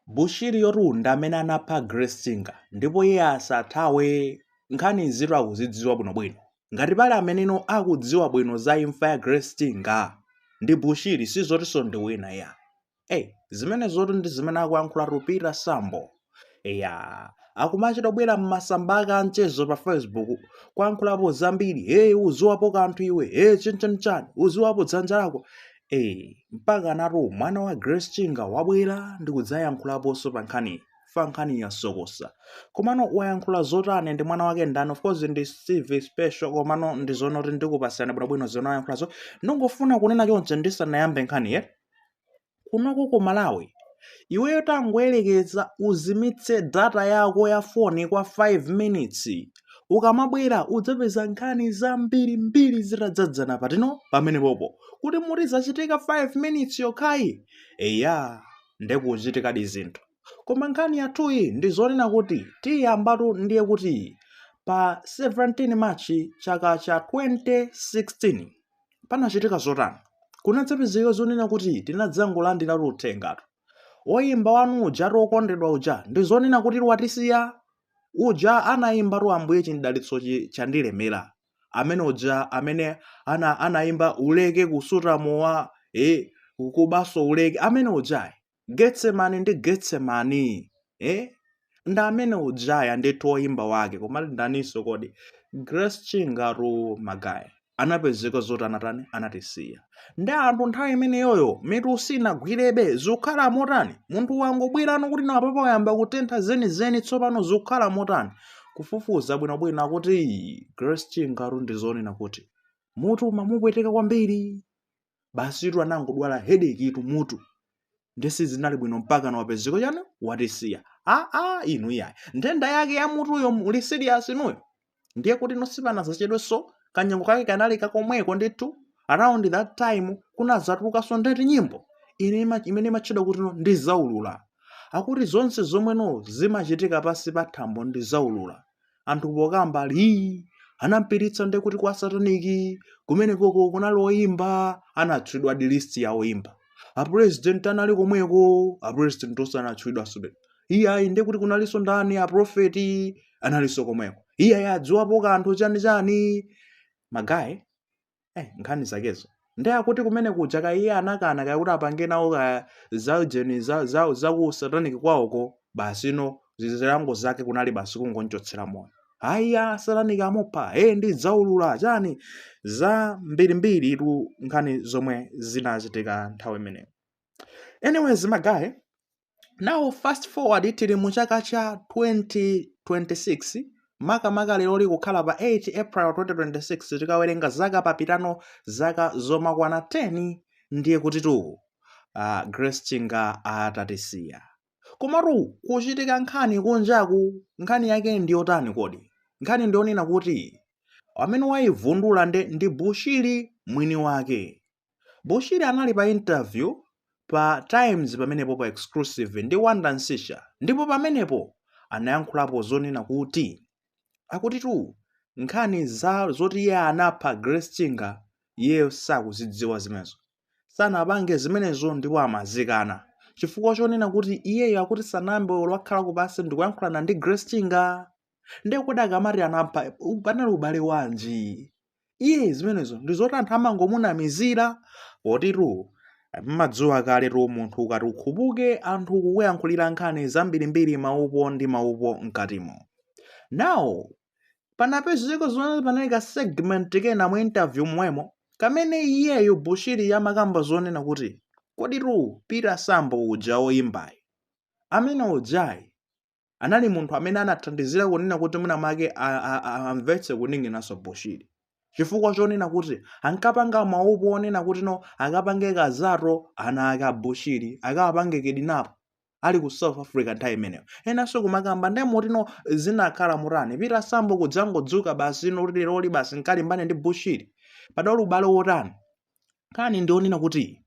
Bushiriyotu nde amene anapha Grace Chinga ndipo iye asathawe nkhani izitu akuzidziwa bwinobwino. Ngati pali ameneno akudziwa bwino za imfa ya Grace Chinga ndi Bushiri si zotinso ndi wina iyayi. Ei, zimenezotu ndi zimene akuyankhulatu Peter Sambo. Eya, akumachita kubwera m'masamba ake anchezo pa Facebook kuyankhulapo zambiri, hey uziwapo kanthu iwe, hey chenchanchan, uziwapo dzanja lako. Eee, mpaka anatu mwana wa Grace Chinga wabwera ndi kudzayankhulaponso pa nkhani fa nkhani yasokosa. Komano wayankhula zotani ndi mwana wake ndani? Of course ndi CV special komano ndi zonoti ndikupatsirani bwinobwino zona wayankhulazo. Ndingofuna kunena choncho ndisanayambe nkhaniyi. Kunoko ku Malawi iweyo tangoyerekeza uzimitse data yako ya foni kwa 5 minutes Ukamabwera udzapeza nkhani zambirimbiri zitadzadzana patino pamene popokuti muti zachitika 5 minutes yokhayi eya nde kukuchitikadi zinthu koma nkhani yathuyi ndi zonena kuti tiyambatu ndiye kuti pa 17 March chaka cha 2016 panachitika zotani kunadzapezeka zonena kuti tinadzangolandiratu uthengatu woyimba wanu uja eti wokondedwa uja ndi zonena kuti watisiya Uja anayimbatu Ambuye chidalitsochi chandilemera. Amene uja amene ana anayimba uleke kusuta mowa eh kubanso uleke amene ujayi. Getsemani ndi Getsemani. Eh? Ndi amene ujaya ndithu oyimba wake komati ndaninso kodi Grace Chingatu magaye. anapezeka zoti anatani anatisiya ndi anthu nthawi imeneyoyo mitu sinagwirebe zikukhala motani munthu wangobwerano kuti nawo papa wayamba kutentha zenizeni tsopano zikukhala motani kufufuza bwinobwino akuti grace chingatu ndi zonena kuti mutu umamupweteka kwambiri basitu anangodwala headache tu mutu nde sizinali bwino mpakana wapezeka chani watisiya a a inu iyayi nthenda yake ya mutuyo muli serious inuyo ndiye kuti no sipanadzachedwenso kanyengo kake kanali kakomweko ndithu around that time kunadzatulukanso nde eti nyimbo ine ima- imene imatchedwa kuti no ndidzaulula akuti zonse zomwe no zimachitika pansi pa thambo ndidzaulula anthu pokamba ii anampititsa nde kuti kwa sataniki kumenekoko kunali oyimba anatchulidwa di list ya oyimba apresident anali komweko apresident onse anatchulidwa sube iyayi nde kuti kunalinso ndani aprofeti analinso komweko iyayi adziwapo kanthu chani chani magaye eh, nkhani zakezo ndi akuti kumene kuja kaya iye anakana kaya kuti apange nawo kaya za ujeni za, za, za ku satanic kwawoko basi no zilango zake kunali basi kungonchotsera moyo iyayi a satanic amupha e ndidzaulula chani zambirimbiritu nkhani zomwe zinachitika nthawi imeneyo anyways magaye now fast forward tili mu chaka cha 2026 makamaka lero likukhala pa 8 april 2026 tikawerenga zaka papitano zaka zomakwana 10 ndiye kuti tu uh, Grace chinga atatisiya komatu kuchitika nkhani kunjaku nkhani yake ndi yotani kodi nkhani ndi yonena kuti amene waivundula nde ndi bushiri mwini wake Bushiri anali pa interview pa Times pamenepo pa exclusive ndi Wonder Msiska ndipo pamenepo anayankhulapo zonena kuti akutitu nkhani za zoti iye anapha Grace Chinga iyeyo sakuzidziwa zimenezo sanapange zimenezo ndipo amazikana chifukwa chonena kuti iyeyo akuti sanayambe olo kukhala pansi ndikuyankhulana ndi Grace Chinga ndiye kodi akamati anapha panali ubale wanji iye zimenezo ndi zoti anthu amangomunamizira potitu mumadziwa kale tu munthu ukati ukhupuke anthu kukuyankhulira nkhani zambirimbiri maupo ndi maupo mkatimo now panapezeka zimene panali ka segment kena mu interview mwemo kamene iyeyo bushiri amakamba zonena kuti kodi tu peter sambo uja oyimbayi amene ujayi anali munthu amene anathandizira kunena kuti mwina mwake amvetse kuninginanso bushiri chifukwa chonena kuti ankapanga maupo onena kuti no akapange kazatu ana ake abushiri akapange kidnap ali ku south africa nthawi imeneyo enanso kumakamba nde muti no zinakhala mutani peter sambo kudzangodzuka basi no leroli basi nkalimbane ndi bushiri padali ubale wotani nkhani ndi yonena kuti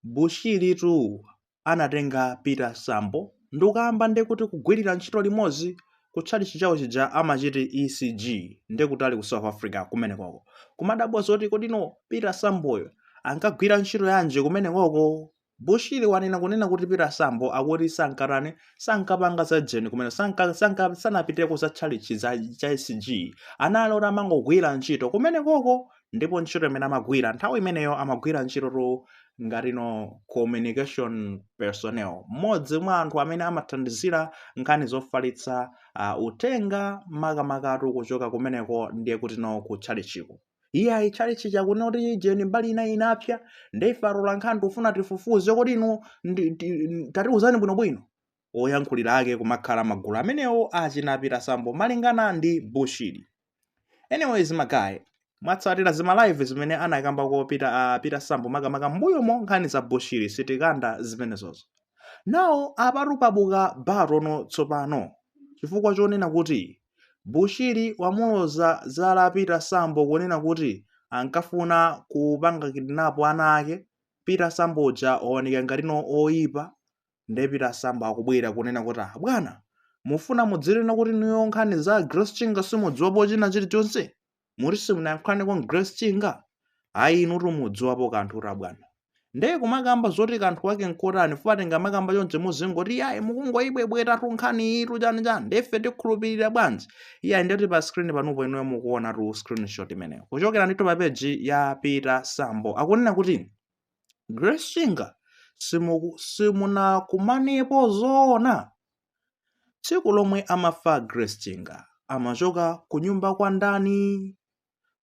Bushiri tu anatenga Peter Sambo ndikukayamba nde kuti kugwirira ntchito limodzi ku tchalichi chawo chija amachiti ECG nde kuti ali ku South Africa kumenekoko. Kumadabwa zoti kodino Peter Samboyo ankagwira ntchito yanji kumenekoko? Bushiri wanena kunena kuti Peter Sambo akuti sankatani sankapanga za jeni kumene sanka, sanka, sanapiteko za tchalichi za cha ECG anali oti amangogwira ntchito kumenekoko ndipo ntchito imene amagwira nthawi imeneyo amagwira ntchito tu ngati no communication personnel mmodzi mwa anthu amene amathandizira nkhani zofalitsa uh, uthenga makamakatu kuchoka kumeneko ndiye kuti no ku tchalichiko iye ayi tchalichi chakunena kuti jeni mbali ina inapsa ndeife atolankhani tufuna tifufuze kodi inu ndi- ndi- tatiuzani bwinobwino oyankhulira ake kumakhala magulu amenewo achina Peter Sambo malingana ndi Bushiri. Anyways magaye, mwatsatira zima live zimene anakamba ko Peter uh, Peter Sambo makamaka mbuyomo nkhani za Bushiri sitikamba zimenezozo. Now apatu pabuka battle no tsopano chifukwa chonena kuti Bushiri wamuloza chala Peter Sambo kunena kuti ankafuna kupanga kidnap ana ake Peter Sambo uja waoneka ngatino oyipa nde peter sambo akubwera kunena kuti ah bwana mufuna mudzinena kuti inuyo nkhani za grace chinga simudziwapo china chilichonse muti simunayankhulaneko ndi grace chinga ayi inutu mudziwapo kanthutu bwana nde kumakamba zoti kanthu wake nkotani fukwa tikamakamba chonchi muzingoti yayi mukungoyibwebwetatu nkhani iyitu chani chani ndefe tikhulupirira bwanji iyayi ndeti pa screen panupo inuyo mukuonatu screenshot imeneyo kuchokera ndithu pa peji ya peter sambo akunena kuti Grace Chinga simuku- simunakumanepo zoona tsiku lomwe amafa Grace Chinga amachoka kunyumba kwa ndani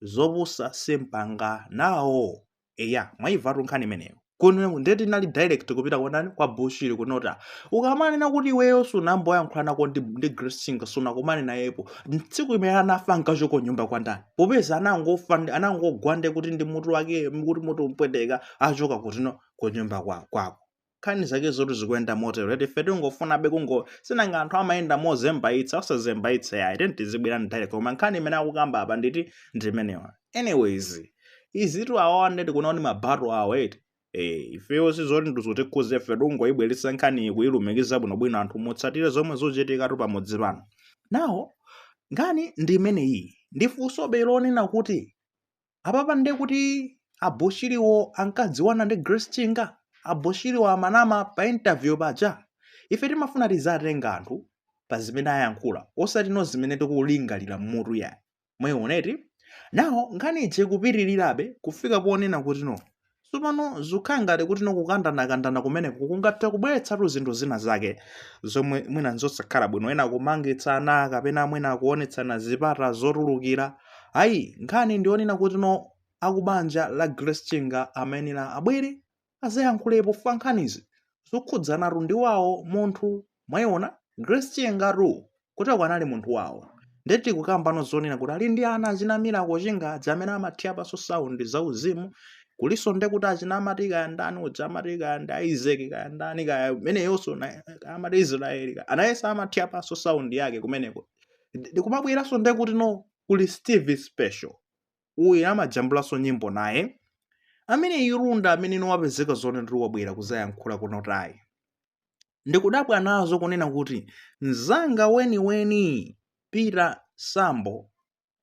zopusa sindipanga nawo eya mwaivatu nkhani imeneyo kuno ndithu inali direct kupita kwa ndani kwa bushiri kunota ukamanena kuti iweyo sunamboyankhulanako ndi, ndi grace chinga sunakumane nayepo tsiku limene anafa ankachoka kunyumba kwa ndani popeza anangofa ndi- anangogwa nde kuti ndi mutu wake kuti mutu umpweteka achoka kuti no kunyumba kwa- kwako nkhani zake zoti zikuyenda motero eti ife tingofunabe kungo si nanga anthu amayenda mozembaitsa osazembaitsa yayi tiyeni tizibwera direct koma nkhani imene akukamba apa ndithu ndimenewa anyways izitu awawa ndeti kunaoni mabato awo eti Eh, ifeyo sizoti ndizotikhudza ife tungoyibweretsa nkhani kuyilumikiza bwinobwino anthu mutsatire zomwe zochitikatu pamudzi pano now nkhani ndi imeneyi ndi funsobe lonena kuti apapa nde kuti abushiriwo ankadziwana ndi grace chinga abushiriwo amanama pa interview paja ife timafuna tizatenga anthu pa zimene ayankhula osati no zimene tikulingalira mmutu yayi mwayiona eti now nkhani ije kupitirirabe kufika ponena kuti no tsopano zikukhala ngati kuti no kukandanakandana kumeneko kungatha kubweretsatu zinthu zina zake zomwe mwina nzosakhala bwino ena kumangitsana kapena mwina kuonetsana zipata zotulukira ayi nkhani ndi yonena kuti no akubanja la grace chinga amayenera abwere azayankhulepo pa nkhanizi zokhudzanatu ndi wawo munthu mwayiona Grace Chingatu kuti ako anali munthu wawo nde tikukambano zonena kuti ali ndi ana achina Miracle Chinga amene amathiraponso sound zauzimu kulinso nde kuti achina amati kaya ndani uja amati kaya ndi Isaac kaya ndani kaya ameneyonso na- kaya amati Israeli kaya nayenso amathiraponso sound yake kumeneko Ndi- ndikumabweranso nde kuti no kuli Steve Spesho uyu amajambulanso nyimbo naye amene irunda amene wapezeka zoona ndi wabwera kuzayankhula kuno tayi ndikudabwa nazo kunena kuti mzanga weniweni peter sambo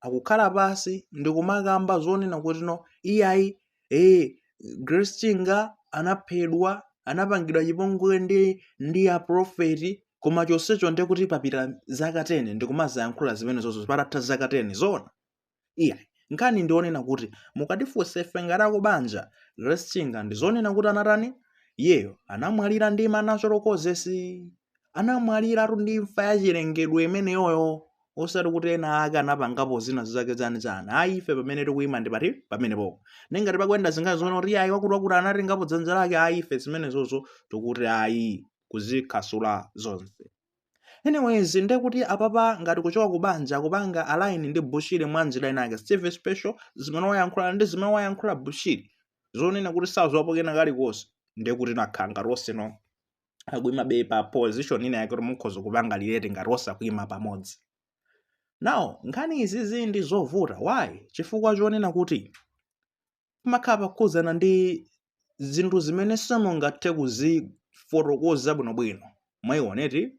akukhala pansi ndikumakamba zonena kuti no iyayi ee grace chinga anaphedwa anapangidwa chipongwe ndi ndi aprofeti koma chonsecho ndiye kuti papita zaka 10 ndikumazayankhula zimenezozo patatha zaka 10 zoona iyayi nkhani ndionena kuti mukatifunsa ife ngati akubanja grace chinga ndizonena kuti anatani iyeyo anamwalira ndi ma natural causes anamwaliratu ndi imfa ya chilengedwe imeneyoyo osati kuti ena ake anapangapo zina zake zani zani ayi ife pamene tikuyima ndi pati pamenepo nde ngati pakuyenda zinkhani zonena kuti ayi wakuti wakuti anatengapo dzanja lake ayi ife zimenezozo tikuti ayi kuzikhasula zonse Anyways, nde kuti apapa ngati kuchoka ku banja kupanga align ndi Bushiri mwa njira inake. Steve Spesho zimene wayankhula ndi zimene wayankhula Bushiri zonena kuti sadziwapo kena kalikonse nde kuti nakhala ngati onseno akuimabe pa position ina yake kuti mukhoza kupanga relate ngati onse akuima pamodzi. Now, nkhani izizi ndi zovuta. Why? Chifukwa chonena kuti pamakhala pakukhudzana ndi zinthu zimene simungathe kuzifotokoza bwinobwino mwayiona eti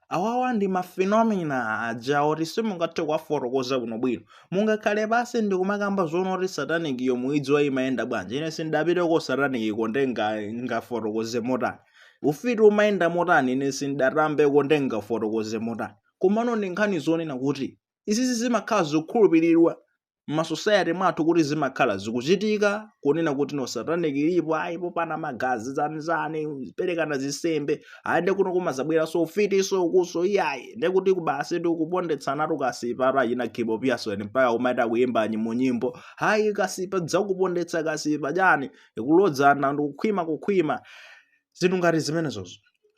awawa ndi mafenomena aja oti simungathe kuwafotokoza bwinobwino mungakhale pansi ndikumakamba zoona oti satanic iyo muidziwa imayenda bwanji ine sindapiteko satanic iko nde nga- ngafotokoze motani ufiti umayenda motani ine sindatambeko nde ngafotokoze motani komano ndi nkhani zonena kuti izizi zimakhala zikukhulupiriridwa m'masosayate mwathu kuti zimakhala zikuchitika kunena kuti no satanic ilipo ayi popana magazi zanizani perekana zinsembe ayi nde kuno kumazabweranso ufitiso ukuso iyayi nde kuti uku basi ndi kupondetsana tukasipa achina gibo pearson mpaka kumachita kuyimba nyi mu nyimbo ayi kasipa dzakupondetsa kasipa chani kulodzana ndikukhwima kukhwima zinthu ngati zimenezozo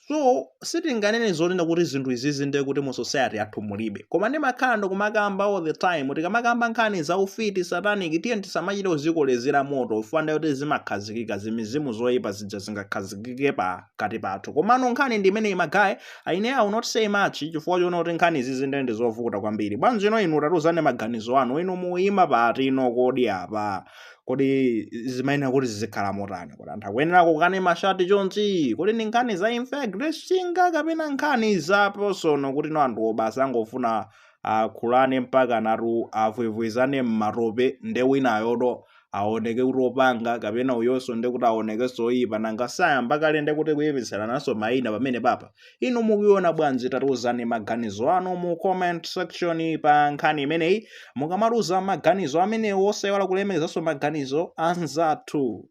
so sitinganene zonena kuti zinthu izizi ndiye kuti mu society yathu mulibe koma ndimakhala ndikumakamba all the time tikamakamba nkhani za ufiti satanic tiye tisamachite kuzikolezera moto chifukwa ndiye kuti zimakhazikika zimizimu zoyipa zija zingakhazikike pakati pathu komano nkhani ndi imeneyi magaye ai ine i will not say much chifukwa chonena kuti nkhani izizi ndiye ndi zovuta kwambiri bwanjino inu tatiuzani maganizo anu inu muyima patino kodi apa kodi zimayenera kuti zizikhala motani kodi anthu akuyenera kukokana mashati chonchi kodi ndi nkhani za imfa ya grace chinga kapena nkhani za personal kuti no anthuwo basi angofuna akhulane mpakanatu avwevwezane mmatope nde winayotu aoneke kuti opanga kapena uyonso nde kuti aonekenso oyipa nanga si ayamba kale nde kuti kuyipitsananso mayina pamenepapa inu mukuiona bwanji tatiuzani maganizo anu mu comment section pa nkhani imeneyi mukamatiuza maganizo amenewo osaiwala kulemekezanso maganizo a anzathu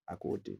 akuti